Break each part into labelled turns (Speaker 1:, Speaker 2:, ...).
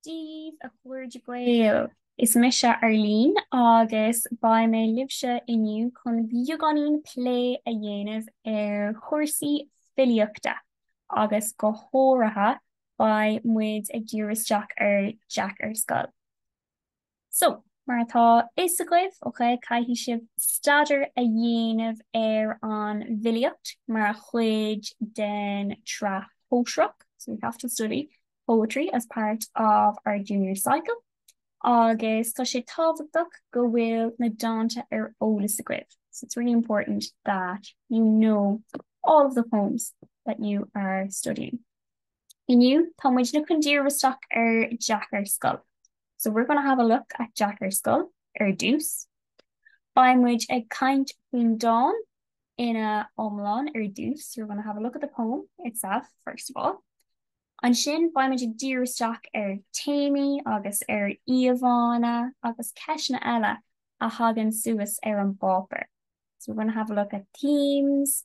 Speaker 1: Dia dhaoibh a chairde Gael! Is mise Arlene agus beidh mé libhse inniu chun beagáinín plé a dhéanamh ar chúrsaí filíochta agus go háirithe beidh muid ag diriú isteach ar Jeaic ar Scoil. So, mar atá 'fhios agaibh, ok, caithfidh sibh staidéar a dhéanamh ar an bhfilíocht mar chuid den tSraith Shóisearach, so you have to study poetry as part of our junior cycle agus tá sé tábhachtach go bhfuil na dánta ar eolas agaibh, so it's really important that you know all of the poems that you are studying. Inniu tá muidne chun díriú isteach ar Jeaic ar Scoil So we're gonna have a look at Jeaic ar Scoil ar dtús. Beidh muid ag caint faoin dán ina iomlán ar dtús, so we're gonna have a look at the poem itself first of all. Ansin beidh muid ag díriú isteach ar téamaí agus ar íomhánna agus ceisteanna eile a thagann suas ar an bpáipéar. So we're gonna have a look at themes,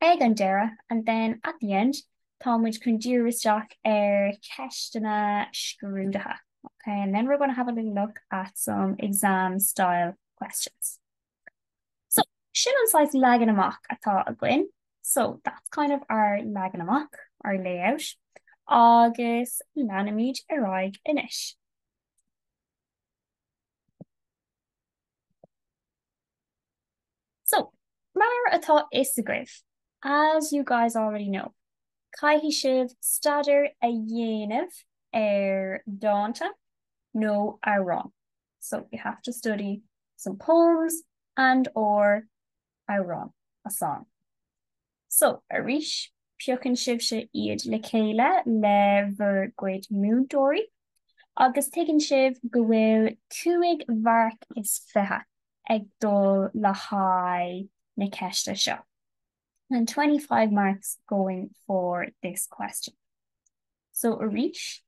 Speaker 1: Ag an deireadh, and then at the end, tá muid chun díriú isteach ar cheisteanna scrúdaithe, ok, and then we're going to have a little look at some exam style questions. So, sin an saghas leagan amach atá againn, so that's kind of our leagan amach, our layout, agus leanfaimid ar aghaidh anois. So, mar atá 'fhios agaibh, as you guys already know, caithfidh sibh staidéar a dhéanamh ar dánta nó amhráin, so you have to study some poems and, or amhrán, a song. So, arís, piocann sibhse iad le chéile le bhur gcuid múinteoirí agus tuigeann sibh go bhfuil cúig mharc is fiche ag dul le haghaidh na ceiste seo, and twenty five marks going for this question. So arís,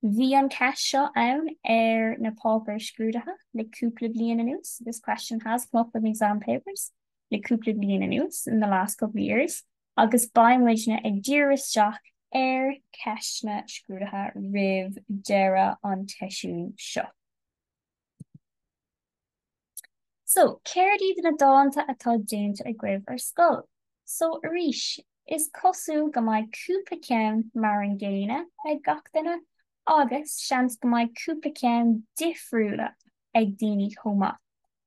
Speaker 1: bhí an cheist seo ann ar na páipéir scrúdaithe le cúpla bliain anuas, this question has come up in the exam papers le cúpla bliain anuas, in the last couple of years, agus beidh muidne ag díriú isteach ar cheisteanna scrúdaithe roimh deireadh an tseisiúin seo. So, céard iad na dánta atá déanta agaibh ar scoil? So, arís, is cosúil go mbeidh cúpla ceann mar an gcéanna ag gach duine agus seans go mbeidh cúpla ceann difriúla ag daoine chomh maith.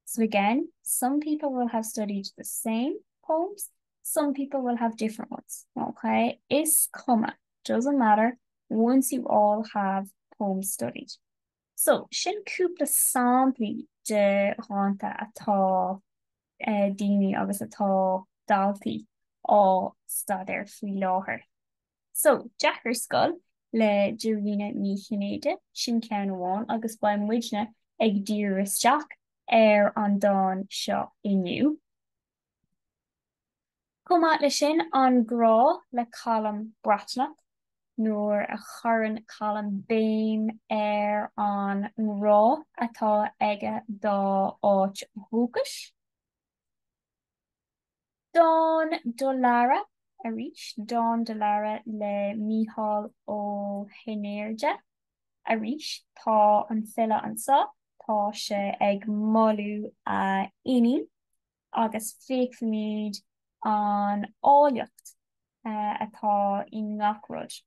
Speaker 1: So, again, some people will have studied the same poems, some people will have different ones, ok? Is cuma, doesn't matter, once you all have poems studied. So, sin cúpla samplaí de dhánta atá daoine agus atá daltaí á staidéar faoi láthair. So, Jeaic ar Scoil le Dairena Ní Chinnéide, sin ceann amháin agus beidh muidne ag díriú isteach ar an dán seo inniu. Chomh maith leis sin, An Grá le Colm Breathnach, nuair a chuireann Colm béim ar an ngrá atá aige dá áit dhúchais. Dán do Lara, arís, dán do Lara le Mícheál Ó hAirtnéide. Arís tá an file anso, tá sé ag moladh a inín agus feicfimid an áilleacht atá i ngach rud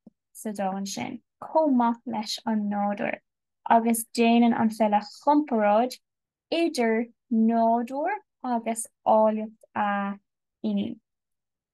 Speaker 1: sa dán sin, chomh maith leis an nádúr, agus déanann an file comparáid idir nádúr agus áilleacht a inín.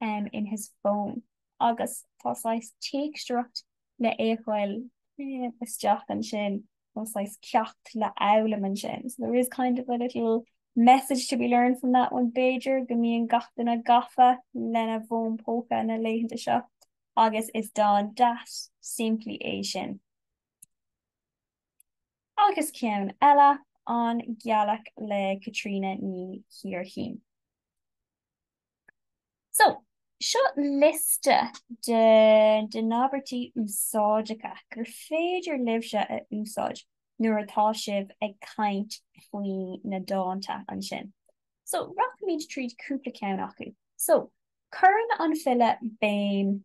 Speaker 1: um in his phone agus tá saghas teachtaireacht le fheiceáil isteach ansin nó saghas ceacht le fhoghlaim ansin, so there is kind of a little message to be learned from that one b'fhéidir go mbíonn gach duine gafa lena bhfón póca na laethanta seo agus is dán deas simplí é sin. Agus ceann eile, An Ghealach le Caitríona Ní Chléirchín. So, seo liosta de de na habairtí úsáideacha gur féidir libhse a úsáid nuair atá sibh ag caint faoi na dánta ansin. So, rachaimid tríd cúpla ceann acu. So, cuireann an file béim.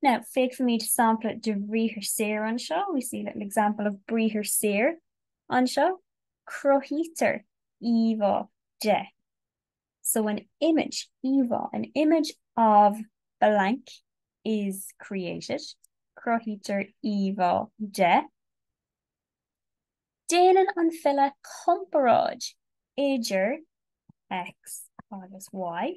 Speaker 1: Now, feicfimid sampla de bhriathar saor anseo, we see a little example of briathar saor anseo, cruthaítear íomhá de, so an image, íomhá, an image of blank is created, cruthaítear íomhá de. Déanann an file comparáid idir X agus Y.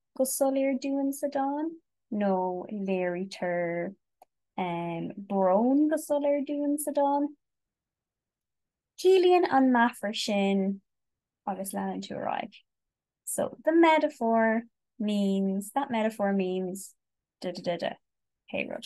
Speaker 1: go soiléir dúinn sa dán, nó léirítear brón go soiléir dúinn sa dán. Ciallaíonn an meafar sin agus leanann tú ar aghaidh so the metaphor means, that metaphor means, duh duh duh duh, pé rud.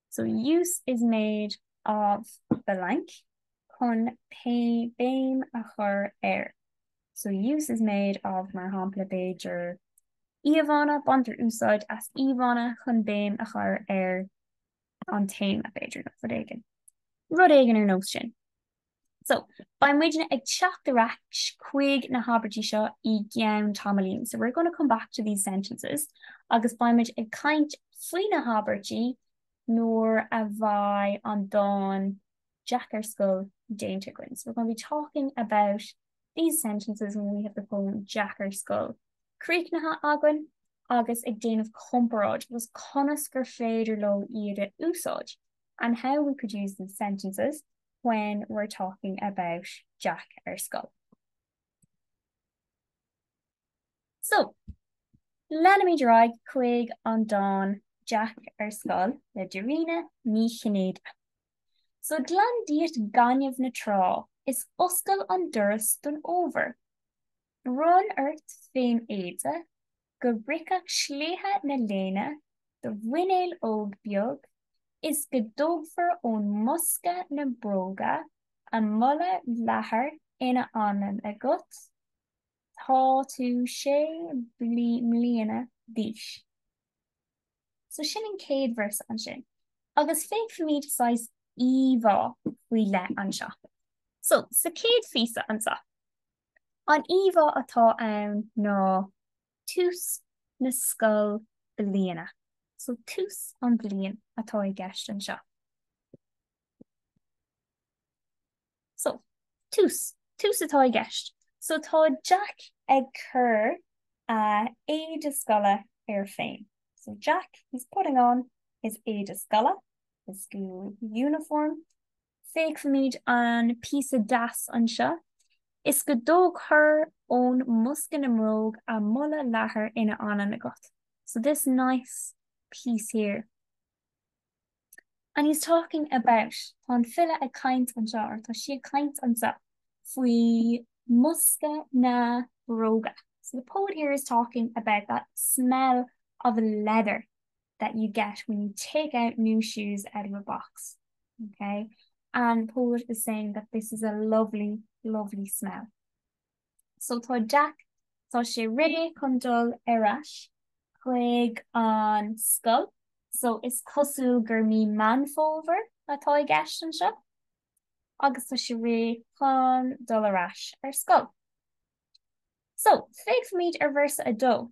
Speaker 1: So use is made of blank, chun béim a chur ar. So use is made of, mar shampla, b'fhéidir, íomhánna, baintear úsáid as íomhánna chun béim a chur ar an téama, b'fhéidir, nó rud éigin. Rud éigin ar nós sin. So, beidh muidne ag teacht ar ais chuig na habairtí seo i gceann tamaillín. So, we're going to come back to these sentences agus beidh muid ag caint faoi na habairtí nuair a bheidh an dán Jeaic ar Scoil déanta againn. So, we're going to be talking about these sentences when we have the poem Jeaic ar Scoil críochnaithe againn agus ag déanamh comparáid agus conas gur féidir leo iad a úsáid and how we could use these sentences when we're talking about Jeaic ar scoil. So, leanfaimid ar aghaidh chuig an dán Jeaic ar scoil le Dairena Ní Chinnéide. So, glan díot gaineamh na trá is oscail an doras don fhómhar. Bronn ort féin éide go bpriocfadh sléibhe na léine do mhuineál óg beag is go dtógfar ón mbosca na bróga a mboladh leathair ina anlann agat, tá tú sé mbliana d'aois. So sin an chéad véarsa ansin agus feicfimid saghas íomhá faoi leith anseo. So sa chéad phíosa anseo. An íomhá atá ann ná tús na scoil bliana. So tús an bhliain atá i gceist anseo. So, tús, tús atá i gceist. So tá Jeaic ag cur a éide scoile air féin. So Jeaic, he's putting on his éide scoile, his school uniform. Feicfimid an píosa deas anseo. Is go dtógfar ón mbosca na mbróga a mboladh leathair ina anlann agat. So this nice piece here. And he's talking about, tá an file ag caint anseo, or tá sí ag caint anseo, faoi mbosca na mbróga. So the poet here is talking about that smell of leather. that you get when you take out new shoes out of a box. Ok? And the poet is saying that this is a lovely, lovely smell. So tá Jack, tá sé réidh chun dul ar ais chuig an scoil. So is cosúil gur mí Meán Fómhair atá i gceist anseo. Agus tá sé réidh chun dul ar ais ar scoil. So, féachfaimid ar véarsa 2.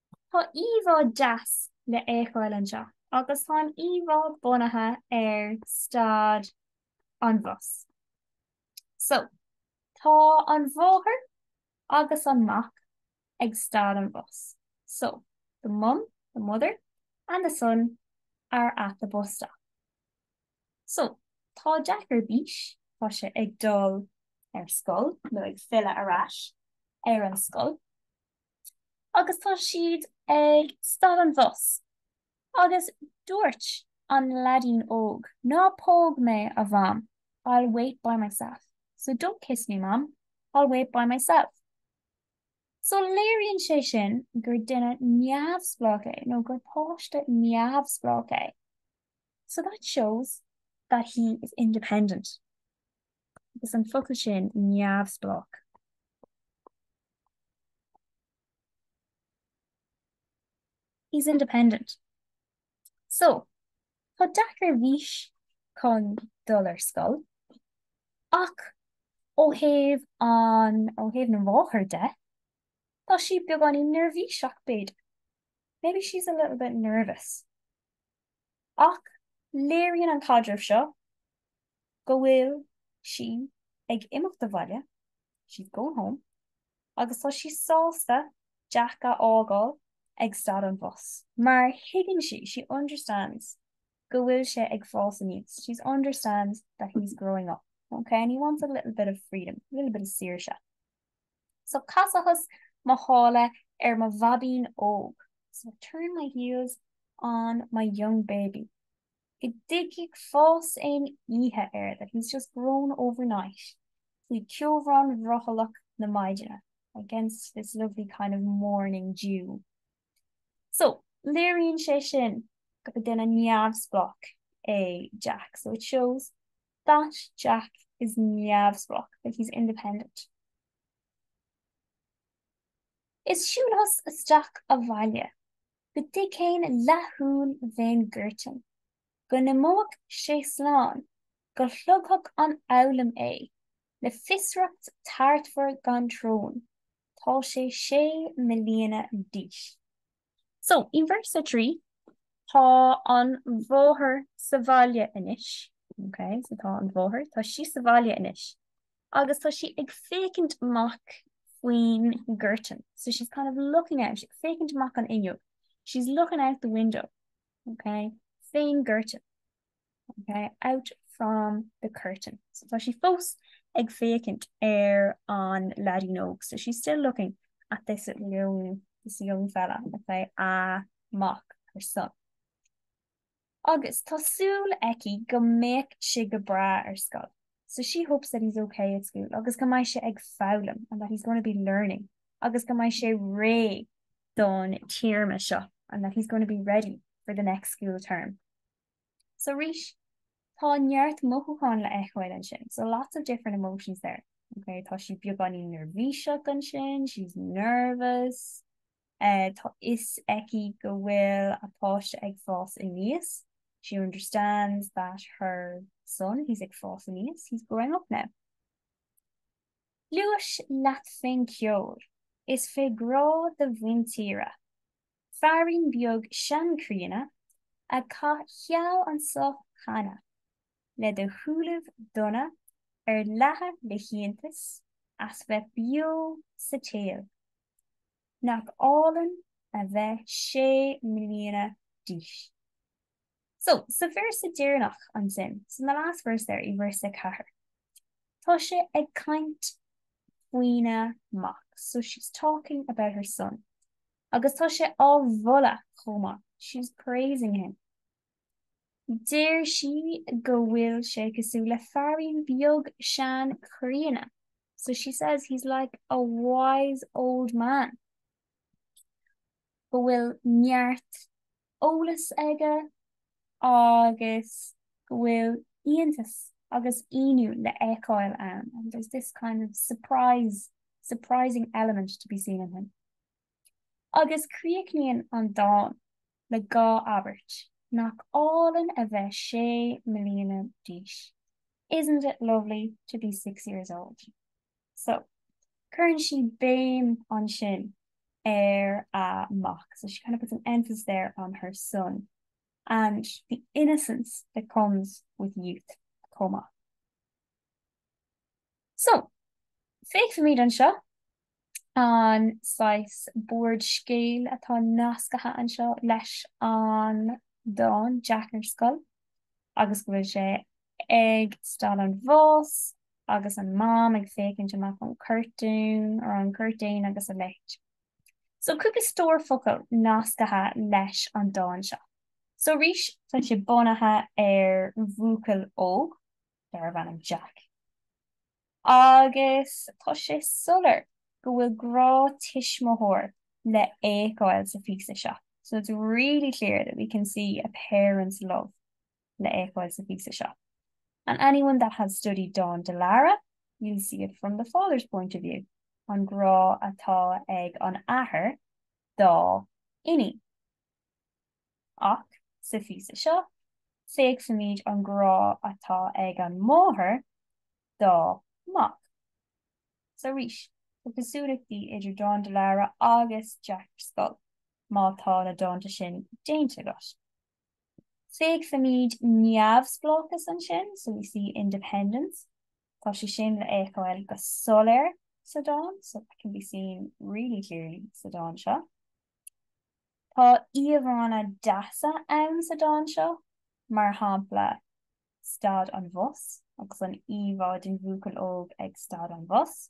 Speaker 1: Tá íomhá deas le fheiceáil anseo agus tá an íomhá bunaithe ar stad an bhus. So, tá an mháthair agus an mac ag stad an bhus. So, the mum, the mother, and the son are at the bus stop. So, tá Jack ar bís, tá sé ag dul ar scoil nó ag filleadh ar ais ar an scoil. agus tá siad ag stad an bhus agus dúirt an leaidín óg, ná póg mé, a Mham, I'll wait by myself, so don't kiss me, Mum, I'll wait by myself. So léiríonn sé sin gur duine neamhspleách é nó gur páiste neamhspleách é, so that shows that he is independent. Agus an focal sin neamhspleách. He's independent. So, tá Jack ar bís chun dul ar scoil, ach ó thaobh an, ó thaobh na mháthair de, tá sí beagáinín neirbhíseach b'fhéidir. Maybe she's a little bit nervous. Ach léiríonn an caidreamh seo go bhfuil sí ag imeacht abhaile, she's going home, agus tá sí sásta Jeaic a fhágáil ag stad an bhus, mar thuigeann sí, she understands, go bhfuil sé ag fás aníos, she understands that he's growing up, okay, and he wants a little bit of freedom, a little bit of saoirse. So chasas mo shála ar mo bháibín óg. So I turned my heels on my young baby. Go dtáinig fás aon oíche air, that he's just grown overnight. Faoi cheobhrán bhrothallach na maidine, against this lovely kind of morning dew. So, léiríonn sé sin gur duine neamhspleách é Jack. So it shows That Jack is neamhspleách, that he's independent. Is shiúlas isteach abhaile go dtí céin leathshúil mhéin Goirtin, go n-imeoidh sé slán, go shlogfadh an fhoghlaim é le fiosracht tartmhar gan teorainn, tá sé sé mbliana d'aois. So, i verse 3, tá an mháthair sa bhaile anois, ok, so tá an mháthair, tá sí sa bhaile anois, agus tá sí ag féachaint amach faoin gcurtain, so she's kind of looking out, she's ag féachaint amach an fhuinneog, she's looking out the window, ok, fén gcurtain. ok, out from the curtain. So tá sí fós ag féachaint ar an leaidín óg. So she's still looking at this young, this young fella, ok, a mac, her son. Agus tá súil aici go mbeadh sé go breá ar scoil. So she hopes that he's ok at school agus go mbeidh sé ag foghlaim and that he's going to be learning agus go mbeidh sé réidh don téarma seo and that he's going to be ready for the next school term. So arís, tá neart mothúchán le fheiceáil ansin, so lots of different emotions there, ok? Tá sí beagáinín neirbhíseach ansin, she's nervous, eh tá 'fhios aici go bhfuil a páiste ag fás aníos, she understands that her son, he's ag fás aníos, he's growing up now. Gluais leat fén gceol, is fé ghrá do mhuintíre. feairín beag seanchríonna a chaith seal anso cheana, le do shúilibh donna ar leathadh le hiontas as bheith beo sa tsaol. Nach álainn a bheith sé mbliana d'aois. So, sa véarsa deireanach ansin, so in the last verse there, i verse a ceathair, tá sé ag caint faoina mac, so she's talking about her son. Agus tá sé á mholadh chomh maith, she's praising him. Deir sí go bhfuil sé cosúil le feairín beag seanchríonna, so she says he's like a wise old man. Go bhfuil neart eolas aige agus go bhfuil iontas agus ionadh le fheiceáil ann, and there's this kind of surprise, surprising element to be seen in him. Agus críochnaíonn an dán le dhá abairt, nach álainn a bheith sé mbliana d'aois, isn't it lovely to be six years old. So, cuireann sí béim ansin ar a mac, so she kind of puts an emphasis there on her son and the innocence that comes with youth chomh maith. So, feicfimid anseo an saghas bord scéil atá nascaithe anseo leis an dán Jeaic ar Scoil agus go bhfuil sé ag stad an bhus agus an Mam ag féachaint amach an curtain, or an curtain, agus a leithéid. So cúpla stór focal nascaithe leis an dán seo. So arís, tá sé bunaithe ar bhuachaill óg darbh ainm Jeaic agus tá sé soiléir go bhfuil grá tuismitheoir le fhéiceáil sa phíosa seo, so it's really clear that we can see a parent's love. le fhéiceáil sa phíosa seo. And anyone that has studied Dán do Lara, you'll see it from the father's point of view, an grá atá ag an athair dá iníon. Ach sa phíosa seo, feicfimid an grá atá ag an máthair dá mac. So arís, tá cosúlachtaí idir Dán do Lara agus Jeaic ar Scoil, má tá na dánta sin déanta agat. Feicfimid neamhspleáchas ansin, so we see independence, tá sé sin le fhéiceáil go soiléir sa dán, so that can be seen really clearly sa dán seo. Tá íomhánna deasa ann sa dán seo, mar shampla stad an bhus agus an íomhá den bhuachaill óg ag stad an bhus.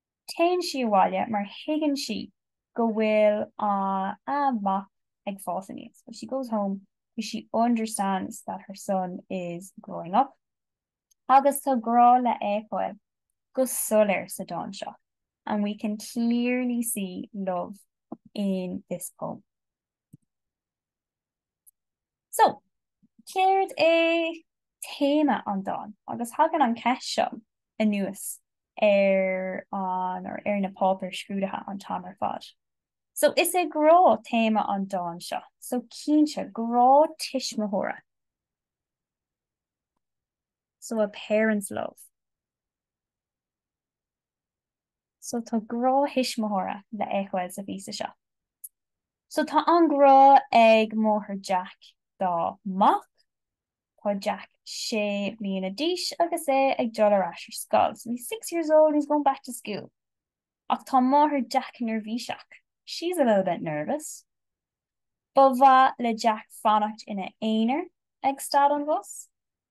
Speaker 1: Téann sí abhaile mar thuigeann sí go bhfuil a a mac ag fás aníos, so she goes home cause she understands that her son is growing up agus tá grá le fhéiceáil go soiléir sa dán seo and we can clearly see love in this poem. So, céard é téama an dáin? Agus thagann an cheist seo anuas ar an, or ar na páipéir scrúdaithe an t-am ar fad. So, is é grá téama an dáin seo. So, cinnte, grá tuismitheora. So, a parent's love. So tá grá thuismitheora le fhéiceáil sa phíosa seo. So tá an grá ag máthair Jeaic dá mac. Tá Jeaic sé bliana d'aois agus é ag dul ar ais ar scoil. So he's six years old and he's going back to school. Ach tá máthair Jeaic neirbhíseach. She's a little bit nervous. Ba mhaith le Jeaic fanacht ina aonar ag stad an bhus.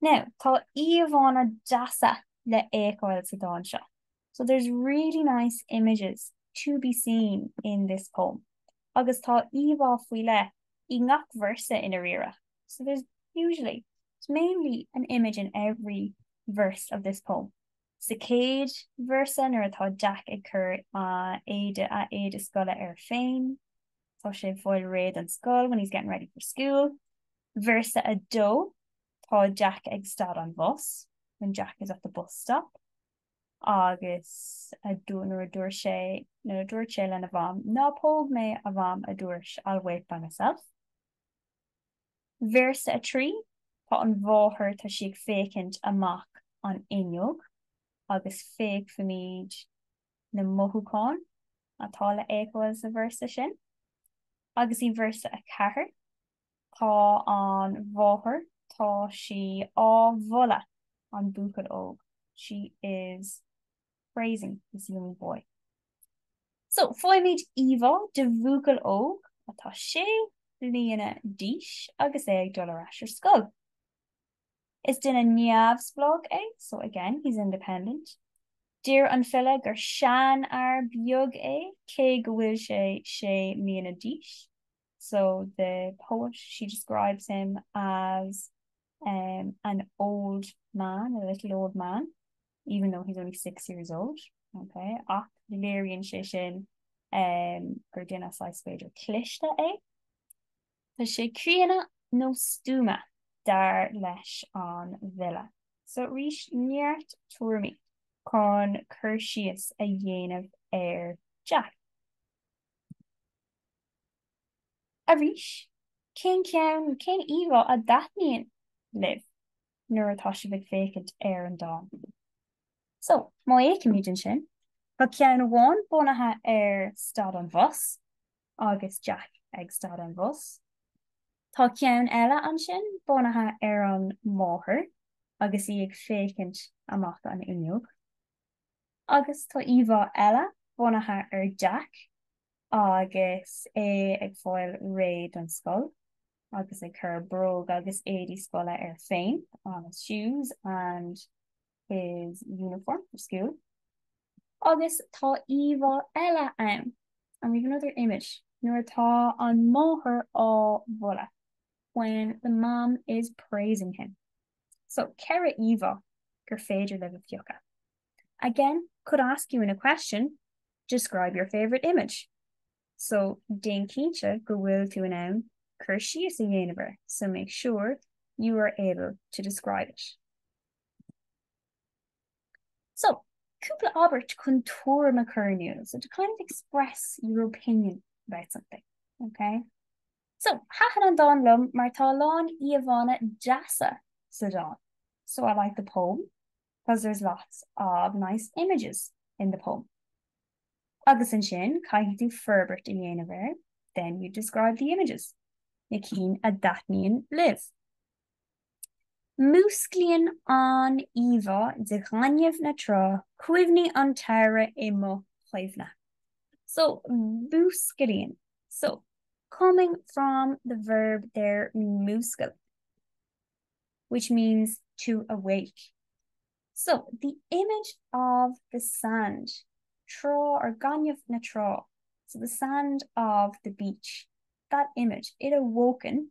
Speaker 1: Now, tá íomhánna deasa le fhéiceáil sa dán seo, So there's really nice images to be seen in this poem, agus tá íomhá faoi leith i ngach véarsa i ndáiríre, So there's usually, there's mainly an image in every verse of this poem. Sa chéad véarsa, nuair atá Jeaic ag cur a éide, a éide scoile air féin, Tá sé ag fáil réidh don scoil, when he's getting ready for school. Véarsa 2, Tá Jack ag stad an bhus, when Jack is at the bus stop. Agus nuair a dúirt sé, nuair a dúirt sé lena mham, Ná póg mé, a mham, a dúirt sé, I'll wait by myself. Véarsa 3, Tá an mháthair, tá sí ag féachaint amach an fhuinneog, agus féachfaimid, na mothúcháin atá le feiceáil sa véarsa sin agus i véarsa a ceathair tá an mháthair, tá sí á mholadh an buachaill óg, she is praising this young boy. So, faighimid íomhá de bhuachaill óg atá sé bliana d'aois agus é ag dul ar ais ar scoil. Is duine neamhspleách é, so again, he's independent. Deir an file gur seanfhear beag é cé go bhfuil sé sé mbliana d'aois, so the poet, she describes him as em an old man, a little old man, even though he's only six years old, ok, ach léiríonn sé sin em gur duine saghas, b'fhéidir, cliste é. Tá sé críonna nó stuama, dar leis an bhfile. So arís, neart tuairimí chun cur síos a dhéanamh ar Jack. Arís, cén ceann, cén íomhá a dtaitníonn libh nuair atá sibh ag féachaint ar an dán? So, má fhéachaimid ansin, tá ceann amháin bunaithe ar stad an bhus, agus Jack ag stad an bhus. Tá ceann eile ansin bunaithe ar an máthair agus í ag féachaint amach an fhuinneog. Agus tá íomhá eile bunaithe ar Jack agus é ag fáil réidh don scoil agus ag cur bróg agus éadaí scoile air féin, on his shoes and. his uniform for school agus tá íomhá eile ann and we have another image nuair atá an máthair á mholadh when the mom is praising him. So ceithre íomhá gur féidir libh a phiocadh. Again, could ask you in a question, describe your favourite image. So déan cinnte go bhfuil tú in ann cur síos a dhéanamh air, so make sure you are able to describe it. So, cúpla abairt chun tuairim a chur in iúl, so to kind of express your opinion about something, okay? So, thaitin an dán liom mar tá a lán íomhánna deasa sa dán. So I like the poem because there's lots of nice images in the poem. Agus ansin, caithfidh tú forbairt a dhéanamh air, then you describe the images. Na cinn a dtaitníonn libh. Músclaíonn an íomhá de ghaineamh na trá cuimhní an tsamhraidh i mo chuimhne. So, músclaíonn, so, coming from the verb there múscail, which means to awake. So, the image of the sand, trá or gaineamh na trá, so the sand of the beach, that image, it awoken,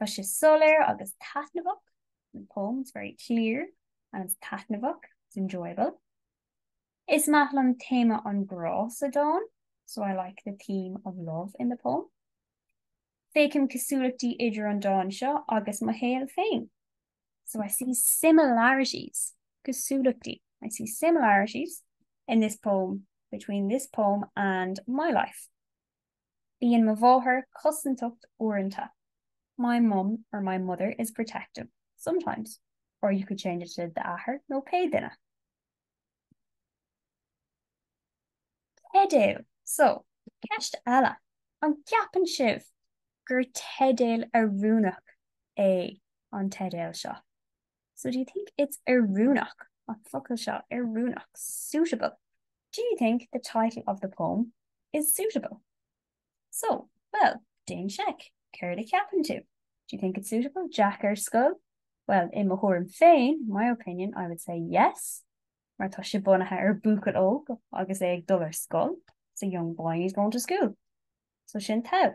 Speaker 1: Tá sé soiléir agus taitneamhach, the poem is very clear and it's taitneamhach, it's enjoyable. Is maith liom téama an ghrá sa dán, so I like the theme of love in the poem. Feicim cosúlachtaí idir an dán seo agus mo shaol féin, so I see similarities, cosúlachtaí, I see similarities in this poem between this poem and my life. Bíonn mo mháthair cosantach uaireanta, My mum, or my mother, is protective sometimes, or you could change it to d'athair nó pé duine. Teideal, So, ceist eile, an gceapann sibh gur teideal oiriúnach é an teideal seo? So do you think it's oiriúnach, an focal seo, oiriúnach, suitable? Do you think the title of the poem is suitable? So, bhuel, dán Jeaic, céard a cheapann tú? Do you think it's suitable? Jeaic ar scoil? Bhuel, i mo thuairim féin, my opinion, I would say yes, mar tá sé bunaithe ar buachaill óg agus é ag dul ar scoil, it's a young boy and he's going to school. So sin taobh.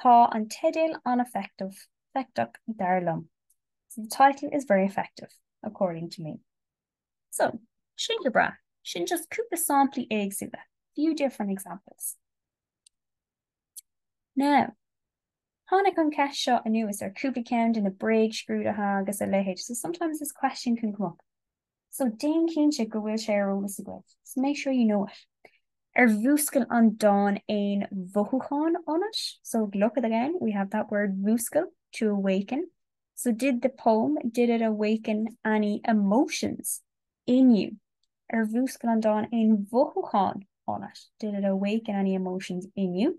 Speaker 1: Tá an teideal an-effective, éifeachtach, dar liom. So the title is very effective, according to me. So, sin go breá. Sin just cúpla samplaí éagsúla, few different examples. Now, tháinig an ceist seo anuas ar cúpla ceann de na bréagscrúduithe agus a leithéid, so sometimes this question can come up. So déan cinnte go bhfuil sé ar eolas agaibh, so make sure you know it. Ar mhúscail an dán aon mhothúcháin ionat? So look at again, we have that word mhúscail, to awaken. So did the poem, did it awaken any emotions in you? Ar mhúscail an dán aon mhothúcháin ionat? Did it awaken any emotions in you?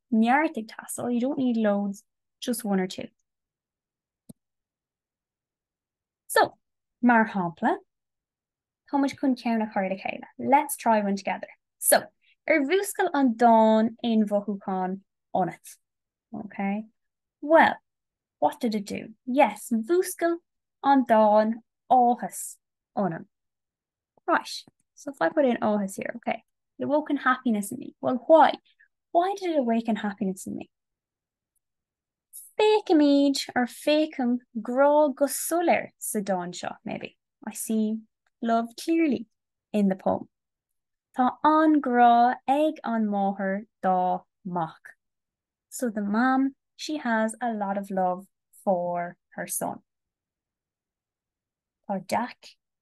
Speaker 1: neart ag teastáil, you don't need loads, just one or two. So, mar shampla, tá muid chun ceann a chur le chéile, let's try one together. So, ar mhúscail an dán aon mhothúchán ionat? Okay. Well, what did it do? Yes, mhúscail an dán áthas ionam. Right. So if I put in áthas here, ok, it awoken happiness in me. Well, why? Why did it awaken happiness in me? Féacaimid, or féachaim, grá go soiléir sa dán seo, maybe. I see love clearly in the poem. Tá an-ghrá ag an máthair dá mac. So the mom, she has a lot of love for her son. Tá deac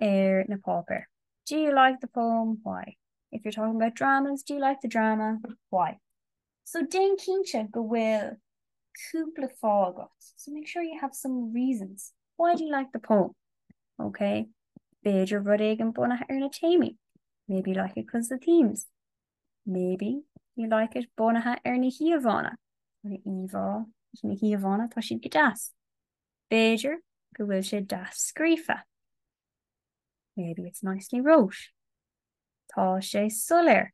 Speaker 1: ar na páipéir. Do you like the poem? Why? If you're talking about dramas, do you like the drama? Why? So déan cinnte go bhfuil cúpla fáth agat, so make sure you have some reasons. Why do you like the poem? OK, b'fhéidir rud éigin bunaithe ar na téamaí, maybe you like it because of the themes. Maybe you like it bunaithe ar na híomhánna, an íomhá, na híomhánna, tá siad go deas. B'fhéidir go bhfuil sé deas scríofa. Maybe it's nicely wrote. Tá sé soiléir.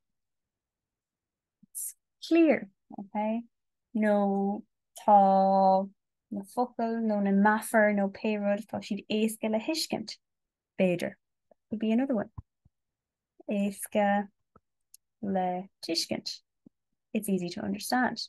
Speaker 1: It's clear. Okay? Nó tá na focail nó na meafair nó pé rud, tá siad éasca le thuiscint. B'fhéidir. That could be another one. Éasca le tuiscint. It's easy to understand.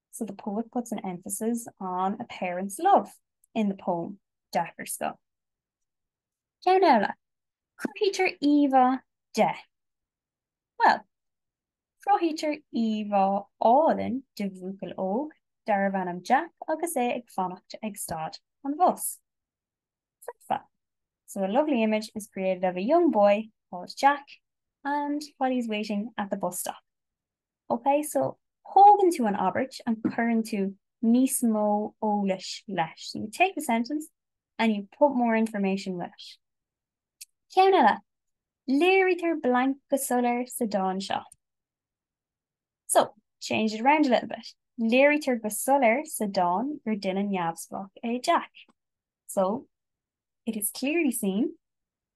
Speaker 1: so the poet puts an emphasis on a parent's love in the poem, Jeaic ar Scoil. Ceann eile, cruthaítear íomhá de. Bhuel, cruthaítear íomhá álainn de bhuachaill óg darbh ainm Jack agus é ag fanacht ag stad an bhus. Foirfe, so a lovely image is created of a young boy called Jack and while he's waiting at the bus stop. Ok, so tógann tú an abairt and cuireann tú níos mó eolais leis. So you take a sentence and you put more information with it. Ceann eile, léirítear blank go soiléir sa dán seo. So, change it around a little bit. Léirítear go soiléir sa dán gur duine neamhspleách é Jack. So, it is clearly seen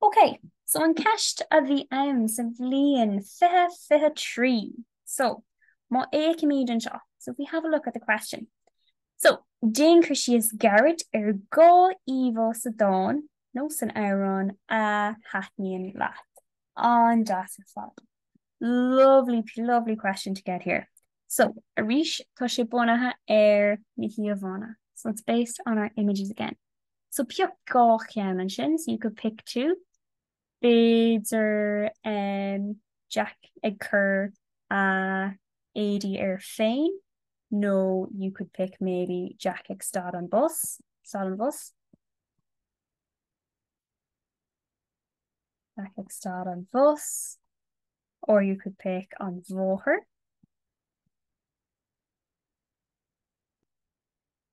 Speaker 1: Ok, so an ceist a bhí ann sa bhliain 2023, so má fhéachaimid anseo, so if we have a look at the question, so déan cur síos gairid ar dhá íomhá sa dán nó san amhrán a thaitníonn leat. An-deas ar fad. Lovely, lovely question to get here. So, arís, tá sé bunaithe ar na híomhánna, so it's based on our images again. So pioc dhá cheann ansin, so you could pick two. B'fhéidir em Jack ag cur a éadaí air féin nó you could pick maybe Jack ag stad an, stad an bhus. Jack ag stad an bhus or you could pick an bhóthair.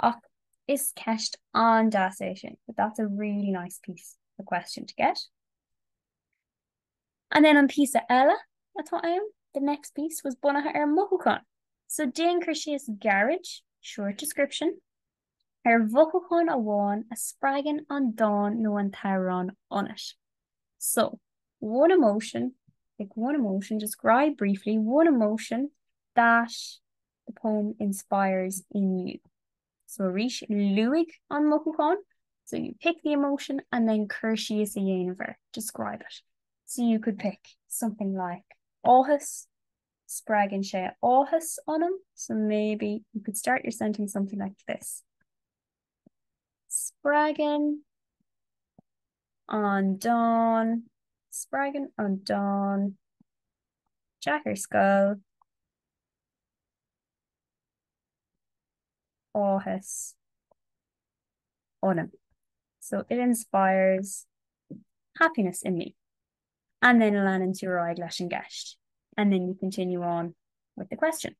Speaker 1: Ach is ceist an-deas é sin, but that's a really nice piece, a question to get. And then an píosa eile atá ann, the next piece, was bunaithe ar mhothúcháin. So déan cur síos gairid, short description, ar mhothúchán amháin a spreagann an dán nó an t-amhrán ionat. So, one emotion, pick one emotion, describe briefly one emotion that, The poem inspires in you. So arís, luaigh an mothúchán So you pick the emotion and then cur síos a dhéanamh air, describe it. So you could pick something like áthas Spreagann sé áthas ionam So maybe you could start your sentence something like this Spreagann an dán Spreagann an dán Jack ar scoil áthas ionam so it inspires happiness in me and then leanann tú ar aghaidh leis an gceist and then you continue on with the question.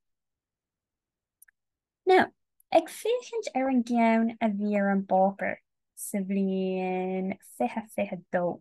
Speaker 1: Now, ag féachaint ar an gceann a bhí ar an bpáipéar sa bhliain fiche fiche dó,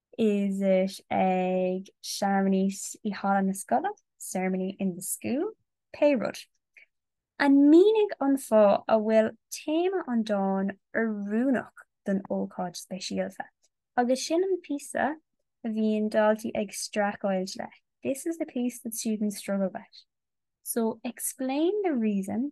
Speaker 1: Is it ag searmanais i halla na scoile, ceremony in the school, pé rud. And mínigh an fáth a bhfuil téama an dáin oiriúnach don ócáid speisialta? Agus sin an píosa a bhíonn daltaí ag streachailt le, this is the piece that students struggle with. So, explain the reason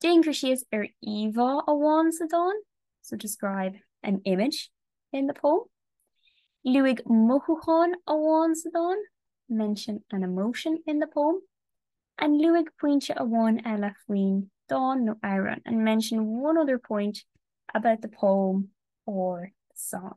Speaker 1: Déan cur síos ar íomhá amháin sa dán, so describe an image in the poem. Luaigh mothúchán amháin sa dán, mention an emotion in the poem. And Luaigh pointe amháin eile faoin dán nó amhrán, and mention one other point about the poem or the song.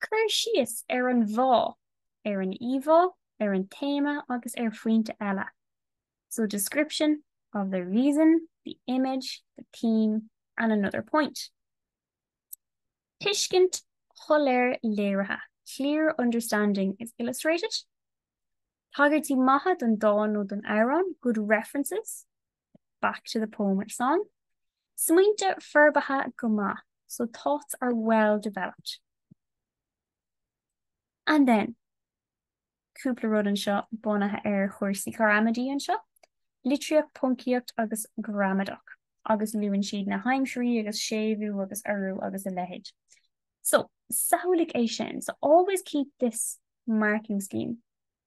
Speaker 1: Cur síos ar an bhfáth, ar an íomhá, ar an téama agus ar phointe eile so description of the reason, the image, the theme and another point tuiscint shoiléir léirithe clear understanding is illustrated tagairtí maithe don dán nó don amhrán good references. back to the poem or song smaointe forbartha go maith so thoughts are well developed and then cúpla rud anseo bunaithe ar chúrsaí ghramadaí anseo, litriú, poncaíocht agus gramadach agus luann siad na haimsirí agus séimhiú agus urú agus a leithéid. So, samhlaigh é sin, so always keep this marking scheme.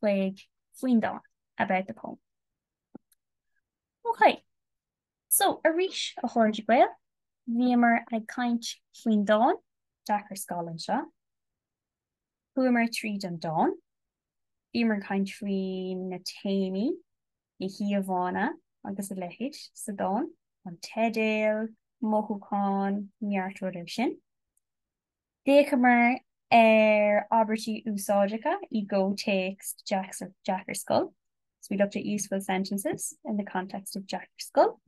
Speaker 1: chuig faoin dán about the poem. OK. So, arís, a chairde Gael, bhíomar ag caint faoin dán Jeaic ar Scoil anseo. Chuamar tríd an dán. Bhíomar ag caint faoi na téamaí, na híomhánna agus a leithéid sa dán, an teideal, mothúcháin, neart rud ansin. D'fhéachamar ar abairtí úsáideacha i gcomhthéacs Jeaic ar Scoil, so we looked at useful sentences in the context of Jeaic ar Scoil,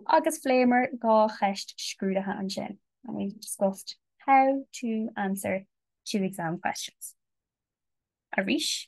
Speaker 1: agus phléamar dhá cheist scrúdaithe ansin, and we discussed how to answer two exam questions. Arís.